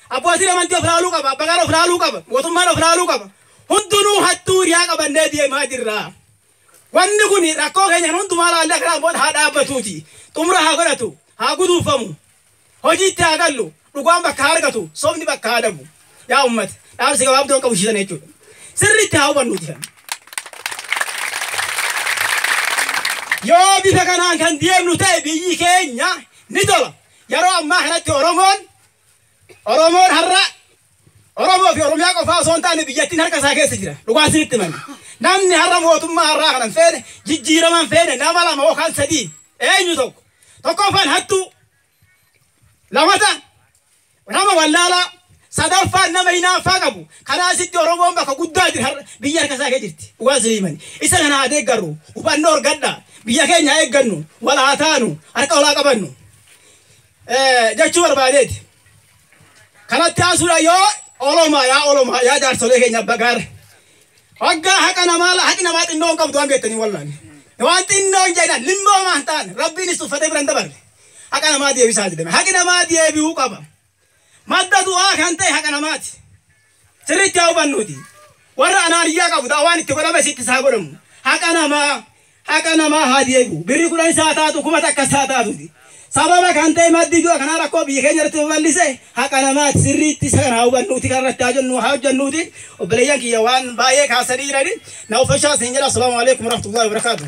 Abbootiin amantii of laaluu qaba. Abbaan of laaluu qaba. Mootummaan of laaluu qaba. Hundinuu hattuu hiriyaa qabannee deemaa jirra. Wanni kun rakkoo keenya kan hundumaa laallee akka dhaabboota haa dhaabbatuuti. Xumura haa godhatu. Haa guduunfamu. Hojiitti haa gallu. Dhugaan bakka haa argatu. Sobni bakka haa dhabu. Yaa uummata. Dhaamsi gabaabdoon qabu shiisan jechuudha. Sirriitti haa hubannu jiran. Yoo bifa kanaan kan deemnu ta'e biyyi keenya ni tola. Yeroo ammaa kanatti Oromoon Oromoon har'a Oromoo fi Oromiyaa qofaa osoo hin taane biyyattiin harka isaa keessa jira. Dhugaa isinitti himanna. Namni har'a mootummaa har'aa kana hin feene jijjiirama hin feene nama lama yookaan sadii eenyu tokko. Tokkoffaan hattuu lamata nama wallaalaa Sadaffaan nama hinaaffaa qabu. Karaa asitti Oromoon bakka guddaa jira har'a. Biyyi harka isaa kee jirti. Dhugaa isinii himani. Isa kana haa deeggarru. Hubannoo horgadha. Biyya keenya haa eeggannu. Wal haa taanu. Harka wal haa qabannu. Jechuu barbaadeeti. Kanatti aansuudhaan yoo Olomaa yaa Olomaa yaa jaarsolee keenya abba gaara. Hoggaa haqa namaa haqi namaa xinnoo hin qabdu waan beektanii wallaani. Waan xinnoo hin jedhan limmoomaa hin taane rabbiinis tuffatee bira hin dabarre. Haqa namaa deebisaa jedhame. Haqi namaa deebi'uu qaba. Madda du'aa kan ta'e haqa namaati. Sirriitti haa hubannuuti. Warra anaaniyyaa qabu ta'a waan itti godhame sitti isaa godhamu. Haqa namaa haqa namaa haa deebi'u. Birri kudhan isaa taatu kuma takka isaa taatuuti. Sababa kan ta'e maddi du'a kanaa rakkoo biyya keenya irratti babal'ise haqa namaati. Sirriitti isa kana haa hubannuuti kan irratti haa jennu haa hojjennuuti. Obboleeyyan kiyya waan baay'ee kaasanii jirani. Na uffachaa siin jedha. Assalaamu alaikum warahmatullahi wabarakaatuh.